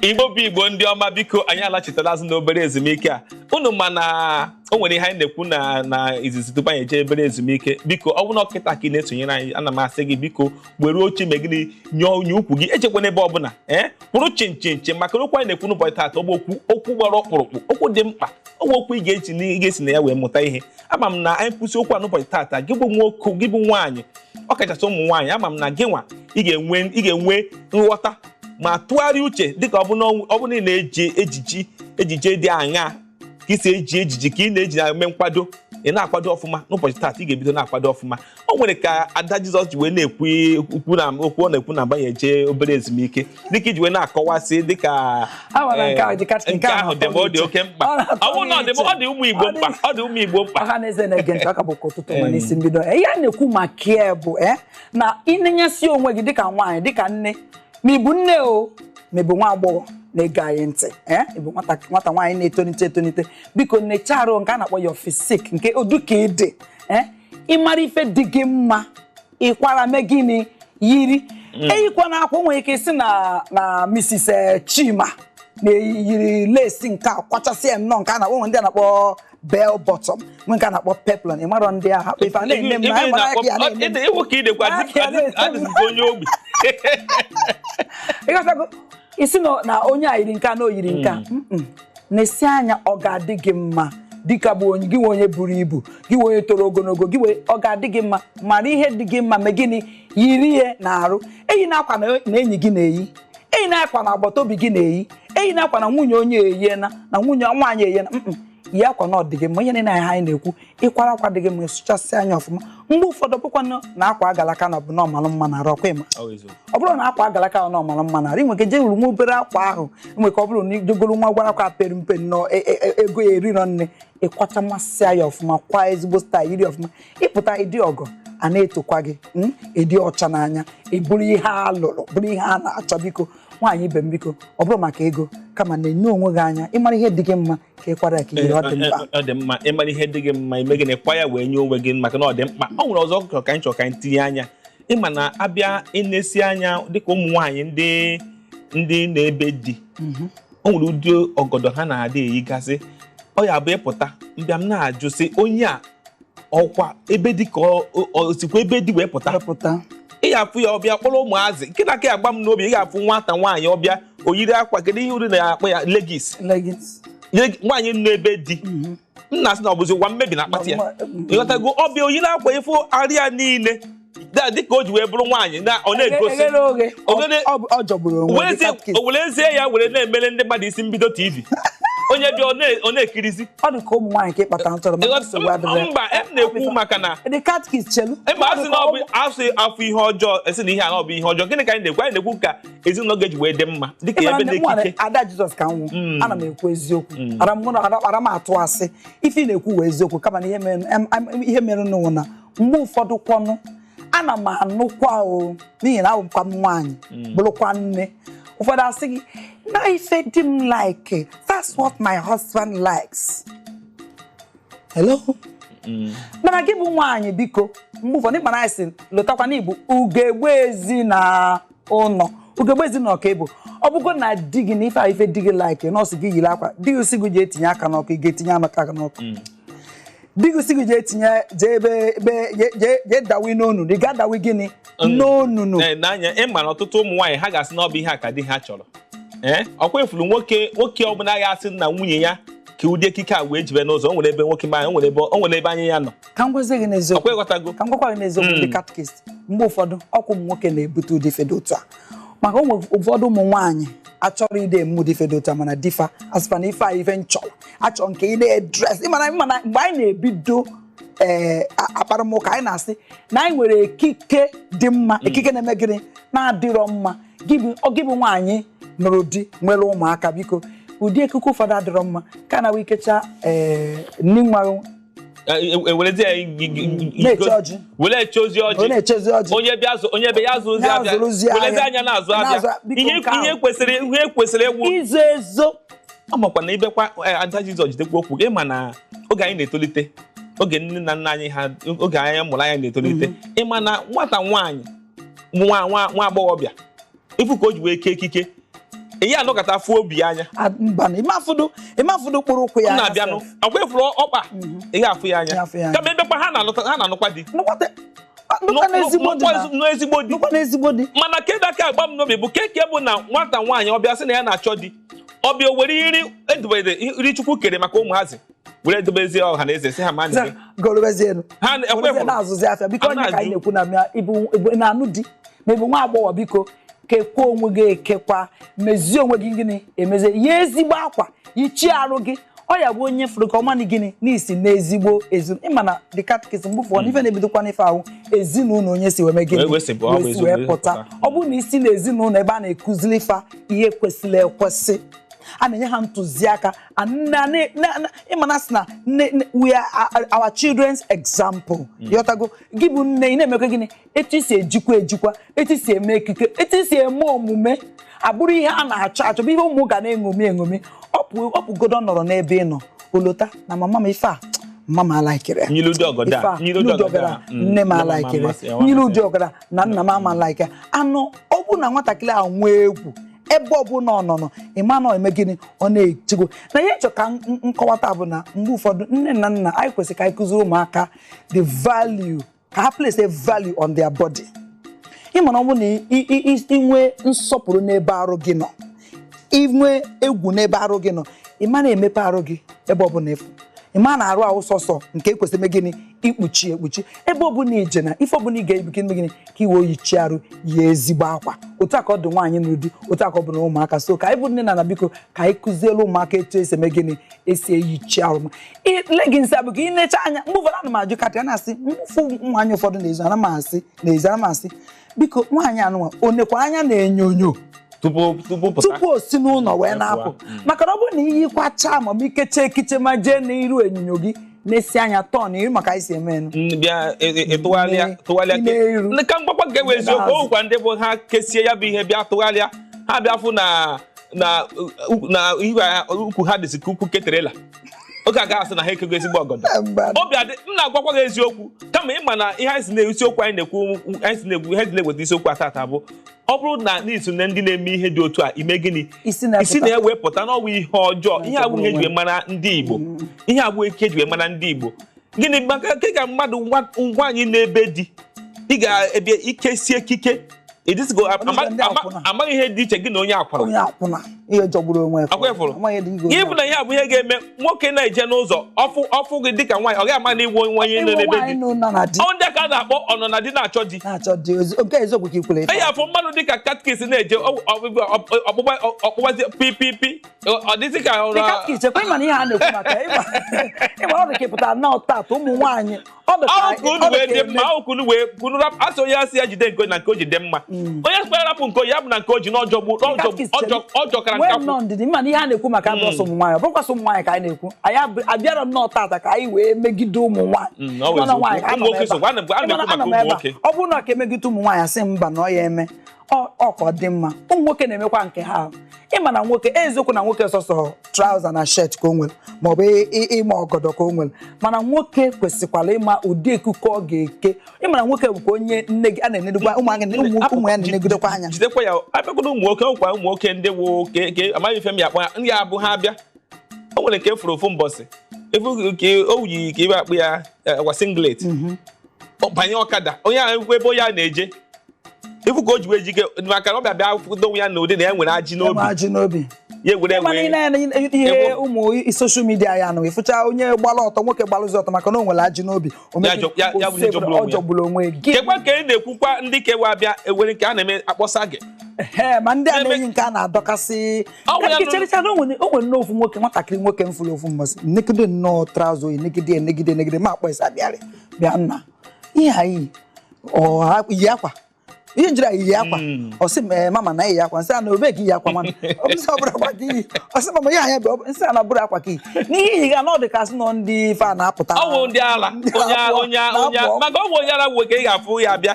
igbo bụ igbo ndị ọma biko anyị alachitala azụ na obere ezumike a unu ma na o nwere ihe anyị na-ekwu na na izizi tupu anyị eje obere ezumike biko ọ bụrụ na ọ kịta ka ị na-esonyere anyị ana m asị gị biko were oche mee gịnị nye ukwu gị ejekwana ebe ọbụla ee kwụrụ chịm chịm chịm maka na okwu anyị na-ekwu n'ụbọchị taata ọ bụ okwu okwu gbara ọkpụrụkpụ okwu dị mkpa ọ bụ okwu ị ga-eji na- ị ga-esi na ya wee mụta ihe ama m na anyị kwusị okwu a n'ụbọchị taata gị bụ nwoke gị bụ nwaanyị ọ kachasị ụmụ nwaanyị ama m na gị nwa ị ga-enwe ị ga-enwe nghọta ma tụgharịa uche dịka ọ bụ na ọ bụ na ị na-eji ejiji ejiji dị aṅa ka i si eji ejiji ka ị na-eji na-eme nkwado ị na-akwado ọfụma n'ụbọchị taata ị ga-ebido na-akwado ọfụma o nwere ka ada jizọs ji wee na-ekwu okwu na okwu ọ na-ekwu na agbanye jee obere ezumike dịka i ji wee na-akọwasị dịka Awara nke ahụ dị kacha- eh, nke nke ahụ ahụ dị ma ọ dị oke mkpa Ọ na-atọ ọ bụrụ na ọ dị iche. ọ dị ụmụ igbo Ọ dị- mkpa ọ dị ụmụ igbo mkpa ọha na eze na-ege ntị aka bụkwa ụtụtụ ma n'isi mbido ihe a na-ekwu maka ya bụ eh, na ịnenyesi onwe gị dịka nwaanyị dịka nne ma ị bụ nne o ma ị bụ nwa agbọghọ na-ege anyị ntị eh, ị bụ nwata nwata nwaanyị na-etonite etonite biko nechaa arụ nke a na-akpọ ya physique negodu ka ị dị eh, ị mara ife dị gị mma ị kwara mee gịnị yiri hmm. eyikwana akwa nwere ike sị na na Mrs. Eh, Chima na-eyiri lace nke a kwachasị ya nnọọ nke a na-akpọ ndị a na-akpọ bell bottom nwee nke a na-akpọ peplum ị marọ ndị agha ife a na-eme m na mara aka ya na-eme ịghọtago ị sị na onye a yiri nke a na o yiri nke a hmm. nesi anya ọ ga-adị gị mma dịka gị bụ onye gị nwa onye buru ibu gị nwa onye toro ogologo gị wee ọ ga-adị gị mma mara ihe dị gị mma mee gịnị yiri ya n'arụ eyina akwa na enyi gị na-eyi eyina akwa na agbata obi gị na-eyi eyina akwa na nwunye onye eyiena na nwunye nwaanyị eyiena yi akwa na ọ dị gị mma ihe niile anyị na-ekwu ị kwara akwa dị gị mma ị sụchasịa ya ọfụma mgbe ụfọdụ bụkwa na akwa agalaka na ọ bụ na ọ malụ mma n'arụ ọ kwa ị ma ọ bụrọ na akwa agalaka na ọ malụ mma n'arụ i nwere ike jee wuru nwa obere akwa ahụ nwere ike ọ bụrụ na i jee goro nwa gwara akwa pere mpe nnọọ e, e, e, ego ya erirọ nne ị kwachamasị ya ọfụma kwa ezigbo style yiri ọfụma ị pụta ị dị ọgọ a na-etokwa gị hmm, ị dị ọcha n'anya ị bụrụ ihe a lụrụ bụrụ ihe a na-achọ biko nwaanyị ibe m biko ọ bụrọ maka ego kama nenye onwe gị anya ị mara ihe dị gị mma ka ị kwara ya ka ihe ọ dị mkpa ọ dị mma ị mara ihe dị gị mma i mee gịnị ị kwa ya wee nye onwe gị maka na ọ dị mkpa o nwere ọzọ chọrọ ka anyị chọrọ ka anyị tinye anya ị ma na a bịa inesi anya dịka ụmụ nwaanyị ndị ndị nọ ebe di Mhm. o nwere ụdị ọgọdọ ha na-adị eyigasị ọ ya-abụ ị pụta m bịa m na-ajụ sị onye a ọ kwa ebe di ka ọ- ọ- o sikwa ebe di wee pụta wee pụta ị ga-afụ ya ọ bịa kpọrọ ụmụazị nke na-aka agba m n'obi ị ga-afụ nwata nwaanyị ọ bịa o yiri akwa kedu ihe unu na-akpọ ya leggings Leggings. Leg- nwaanyị nọ be di Mhm. nna sị na ọ bụzi ụwa mmebi na akpati ya Ma- ma- ịghọtago ọ bịa o yiri akwa ị fụ arụ ya niile Da- dịka o ji wee bụrụ nwaanyị na ọ na-egosi Eghere oghe. Oghere- Ọ- ọ- ọ jọgburu onwe wee ya, zie- cupcake. o were zie ya were na-emere ndị mmadụ isi mbido tv onye bịa ọ na- ọ na-ekirizi ọ dị ka ụmụ nwaanyị ka ịkpata ntọrọ mana nsogbu Ịghọta- adịrị mba em na-ekwu maka na dị catechist chelu ebe a sị na ọ bụ a sị a fụ ihe ọjọọ a sị na ihe a na ọ bụ ihe ọjọọ gịnị ka anyị na-ekwu anyị na-ekwu ka ezinụlọ ga-eji wee dị mma dịka ebe dị ekike ada jizọs ka m wụ mm. ana m ekwu eziokwu mm. arọ m atụ asị ife ị na-ekwu wụ eziokwu kama na ihe merenụ wụ na mgbe ụfọdụ kwọnụ ana m anụkwa o n'ihi na abụkwa m nwaanyị mm. bụrụkwa nne ụfọdụ asị gị na ife di m like that's what my husband likes hello Mm. mana gị bụ nwaanyị biko mgbe ụfọdụ ịkpara anyị si lotakwa na ị bụ ugegbe ezi na ụlọ ugegbe ezinụlọ ka ị bụ ọ bụgo na di gị na ife a ife di gị like na ọ sị gị yiri akwa di gị sị gị jee tinye aka n'ọkụ ị ga-etinye amaka aka n'ọkụ mm. di gị sị gị jee tinye jee ebe ebe jee dawi n'onunu ị ga-adawi gịnị mm. n'onunu eh, n'anya ị ma na ọtụtụ ụmụ nwaanyị ha ga-asị na ọ bụ ihe a ka di ha chọrọ eh, ọkwa ị fụrụ nwoke nwoke ọbụla ga-asị na nwunye ya kee ụdị ekike a wee jebe n'ụzọ o nwere ebe nwoke ma o nwere ebe anya ya nọ ka m gwazie gị n'eziokwu ọkwa ịghọtago ka m gwakwa gị n'eziokwu ndị catechist mgbe ụfọdụ ọ wụ ụmụ nwoke na-ebute ụdị ife dị otu a maka ụmụ ụfọdụ ụmụ nwaanyị achọrọ ịdị eme ụdị ife dị otu a mana di fa asịkwa na ife a ife m chọrọ achọ m ka ị na-edress ị ma na ị ma na mgbe anyị na-ebido ee mkparịta ụka anyị na-asị na anyị nwere ekike dị mma ekike na-eme gịnị na-adịrọ mma gị bụ ọ gị bụ nwaanyị nụrụ di nwere ụmụaka biko ụdị ekike ụfọdụ adịrọ mma ka na ị kecha ee nni nwa ewerezi ya na-eche ọjị were echezi ọ ọjị na-echezi ọjị onye bịa zụ onye bịa ya zụọzi afịa Na-azụrụzi ahịa. werezi anya na-azụ afịa Na-azụ- biko ihe nke ahụ. ihe kwesịrị ihe kwesịrị egwu izo ezo ọ makwa na ibekwa eh, ada jizọs jidekwa okwu ị ma na oge anyị na-etolite oge nne na nna anyị ha oge anyị mụrụ anya na-etolite ị ma na nwata nwaanyị nwa nwa nwa agbọghọbịa ị fụ ka o ji wee kee ekike ị ya-anọkata afụ obi anya A- mba na ị ma afụdụ ị ma afụdụ mkpụrụ ụkwụ ya m na-abịanụ sef. ọkwa ị fụrụ ọkpa ị ya-afụ ya Ya afụ ya anya anya. kama ebekwa ha na-anụta- ha na-anụkwa di Nụkwata- nụkwa n'ezigbo di na- n'ezigbo di nụkwa n'ezigbo di mana kedu aka agba m n'obi bụ keke bụ na nwata nwaanyị ọ bịa sị na ya na-achọ di ọ bịa o were nri e dobere nri chukwu kere maka ụmụazị were edobezie ọha na eze si ha ma Sef, nri gorobezienụ. ha ekwe Gorobezie hụrụ na-azụzi afịa biko A onye ka anyị na-ajụ. na-ekwu na mịa ịbụ ịbụ- ị na-anụ di ma ị bụ nwa agbọghọ biko kekwa onwe gị ekekwa mezie onwe gị gịnị emezie yie ezigbo akwa yichie arụ gị ọ ya-abụ onye fụrụ gị ọ malụ gịnị na i si n'ezigbo ezinụlọ ị ma na the catechism mgbe ụfọdụ ife na-ebidokwa n'ife ahụ ezinụlọ onye si wee mee gịnị wee si wee pụta ọ bụrụ na i si n'ezinụlọ ebe a na-ekuzili ifa ihe kwesịrị ekwesị a na-enye ha ntụziaka ị ma na a sị na we are our children's example mm. ị ghọtago gị bụ nne ị na-emekwa gịnị etu i si ejikwa ejikwa etu i si eme ekike etu i si eme omume abụrụ ihe a na-achọ achọ bụ ihe ụmụ gị na-eṅomi eṅomi ọ pụgodo nọrọ n'ebe ị nọ o lota na mama m ife a mama m alaikere ife a nne m alaikere m yiri ụdị ọgara na nna m ama alaikere anụ ọ bụ na nwatakịrị ahụ nwee egwu ebe ọbụla ọ nọ nọ ị ma na-eme gịnị ọ na-echego na ihe m chọ ka m kọwata bụ na mgbe ụfọdụ nne na nna anyị kwesịrị ka anyị kụziri ụmụaka the value ka ha place a value on their body ị ma na ọ bụrụ na i nwee nsọpụrụ n'ebe arụ gị nọ i nwee egwu n'ebe arụ gị nọ ị ma na-emepe arụ gị ebe ọbụla ị fụ ị ma na arụ ahụ sọsọ nke e kwesịrị ime gịnị ikpuchi ekpuchi ebe ọbụla i je na ife ọbụla ị ga-eyi ka i mee gịnị ka i wee yichie arụ ya ezigbo akwa otu a ka ọ dị nwaanyị nụ di otu a ka ọ bụ na ụmụaka so ka anyị bụ nne na na biko ka anyị kụziere ụmụaka etu e si eme gịnị e si eyichi arụ ma leggings abụ ka ị necha anya mgbe ụfọdụ ana m ajụ katị ana m asị m fụ nwaanyị ụfọdụ n'ezi ana m asị n'ezi ana m asị biko nwaanyị a nụnwa o nekwa anya n'enyonyo tupu tupu pụta tupu o si n'ụlọ wee na-apụ Mm. maka na ọ bụrụ na i yikwachaa ma ọ bụ i kechaa ekike ma jee n'iru enyonyo gị nesie anya turn iru maka anyị si eme enu Mm, bịa e- e- e- tụgharịa I nee- tụgharịa i nee ke- iru. Ndị ka m gwakwa nke bụ I nee eziokwu azụ. o nwekwa ndị bụ ha kesie ya bụ ihe bịa tụgharịa ha bịa fụ na na uh, na ihu ha- ukwu ha dịzi ka ukwu ke trailer oge a ga-asị na ha ekego ezigbo ọgọdọ obi adị m na-agwakwa gị eziokwu kama ị ma na ihe anyị si na isiokwu anyị na-ekwu anyị si na-ekwu ihe dị na-eweta isiokwu a tata bụ ọ bụrụ na i so na ndị na-eme ihe dị otu a i mee gịnị I si na ya pụta. i si na ya wee pụta na ọ wụ ihe ọjọọ ihe a abụghị ihe e ji wee mara ndị Igbo ihe a abụghị ekike e ji wee mara ndị Igbo gịnị maka kee ka mmadụ nwaanyị nọ na be di ị ga-abịa i kesie ekike ịdịsịgo amaghị ihe dị iche gị na onye akwụna gị bụ na ihe a bụ ihe ga-eme nwoke na-eje n'ụzọ ọ fụ ọ fụ gị dịka nwaanyị ọ gaghị ama na ị wụ onye nọ na be di ọ ndị a ka a na-akpọ ọ nọ na di na-achọ di ị ya-afụ mmadụ dịka catfish na-eje ọkpụgbazi pipipi ọ dịzị ka ọrụ dịka ichekwa ịma na ihe a na-ekwu maka ịma ọ dị ka pụtara na ọtat ụmụ nwaanyị ọdụkunu wee kwunu a sị onye asị ya jide nke na nke o ji dị mma mm. onye a sịkwa ya rapụ nke ya bụ na nke o ji na ọ jọgbu ọ jọkara nkakwụ ndidi mana ihe a na-ekwu maka mm. abụrọ sọ ụmụ nwaanyị ọ bụrọkwa sọ ụmụ nwaanyị ka anyị na-ekwu anyị abịarọ nnọọ tata ka anyị wee megide ụmụ nwaanyị ọ bụrụ na ọ ka e megide ụmụ nwaanyị asị mba na ọ ya-eme ọkwa dị mma ụmụ nwoke na-emekwa nke ha ịma na nwoke eziokwu na nwoke sọsọ trauza na shet ka o nwere maọbụ ịma ọgọdọ ka o nwere mana nwoke kwesịkwara ịma ụdị ekike ọ ga-eke ịma na nwoke bụkwa onye nne gị a na-enedekwa ụmụ ya na-enegidekwa anya jidekwa ya abịakwala ụmụ nwoke ọkwa ụmụ nwoke ndị wụ oke amaghị ife m ya-akpọ ndị ahụ ha abịa o nwere nke m fụrụ ofu mbọsị ị fụ ka o yi ka ife akpọ ya agwa eh, singlet mhm. banye ọkada onye ahụ ekwu ebe onye a na-eje ị fụ ka o ji wee jike maka na ọ bịa bịa kwụdo onwe ya na ụdị na ya nwere ajị n'obi ajị n'obi ya egwere egwe ihe ụmụ soshal midia ya nụ ị fụcha onye gbara ọtọ nwoke gbalụzi ọtọ maka na o nwere ajị n'obi ọ jọgburu onwe ya kekwa ka ị na-ekwukwa ndị kewa abịa ewere nke a na-eme akpọsa gị ma ndị a na-eyi nke a na-adọkasị chericha na o nwere nne ofu nwoke nwatakịrị nwoke m fụrụ ofu mbọsị negide nnọọ traụza o yi negide negide negide m akpọọ ya sị bịarị bịa nna ihe anyị yi akwa ihe njiri anyị yi akwa hmm. ọ sị m eh, mama na iyi akwa m sị ya na obe gị yi akwa mana ọ bụ sị ọ bụrọ akwa ka i yi ọ sị mama ihe anya bụ m sị ya na ọ bụrọ akwa ka i n'ihe i yi ga na ọ dị ka na ndị ife a na-apụta ọ wụ ndị ala onye onye onye maka ọ wụ onye ala nwoke ị ga-afụ ya bịa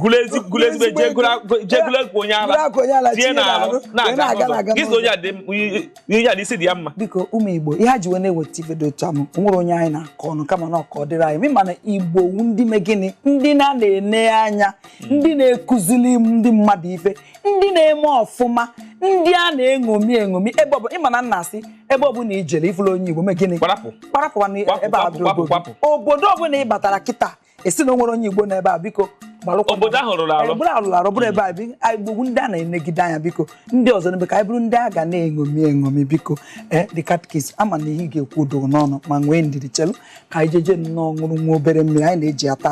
gụrụ ezi- gụrụ ezigbo ego, jee gụrụ- gụrụ- jee gụrụ ego onye ala Goro akwa onye ala, tie tinye n'ala n'arụ, wee na-aga na-aga n'ụzọ na-aga gị sị onye a dị mma, i- i- onye a dị isi dị ya mma biko ụmụ igbo ihe a ji wee na-eweta ife dị otu ahụ o nwerọ onye anyị na-akọ ọnụ kama na ọ ka ọ dịrị anyị ma na igbo wu ndị me gịnị ndị na na-ene anya ndị na-ekuzili ndị mmadụ ife ndị na-eme ọfụma ndị a na-eṅomi eṅomi ebe ọbụla ị ma na na a sị ebe ọbụla i jere ị fụrọ onye igbo me gịnị Kparapụ. kparapụ na Kwapụ, ebe a kwapụ, kwapụ, kwapụ. obodo ọbụla ị batara kịta a sị na o nwerọ onye igbo nọ ebe a biko gbalụkwa obodo ahụ rụrụ arụ bụrụ alụrụ arụ bụrụ ebe a bi- anyị igbo bụ ndị a na-enegide anya biko ndị ọzọ n'ebe ka anyị bụrụ ndị a ga na-eṅomi eṅomi biko ee the catechist ama m na ihe ị ga-ekwu dị gị n'ọnụ ma nwee ndidi chelu ka anyị jeje nnọọ ṅụrụ nwa obere mmiri anyị na-ejiata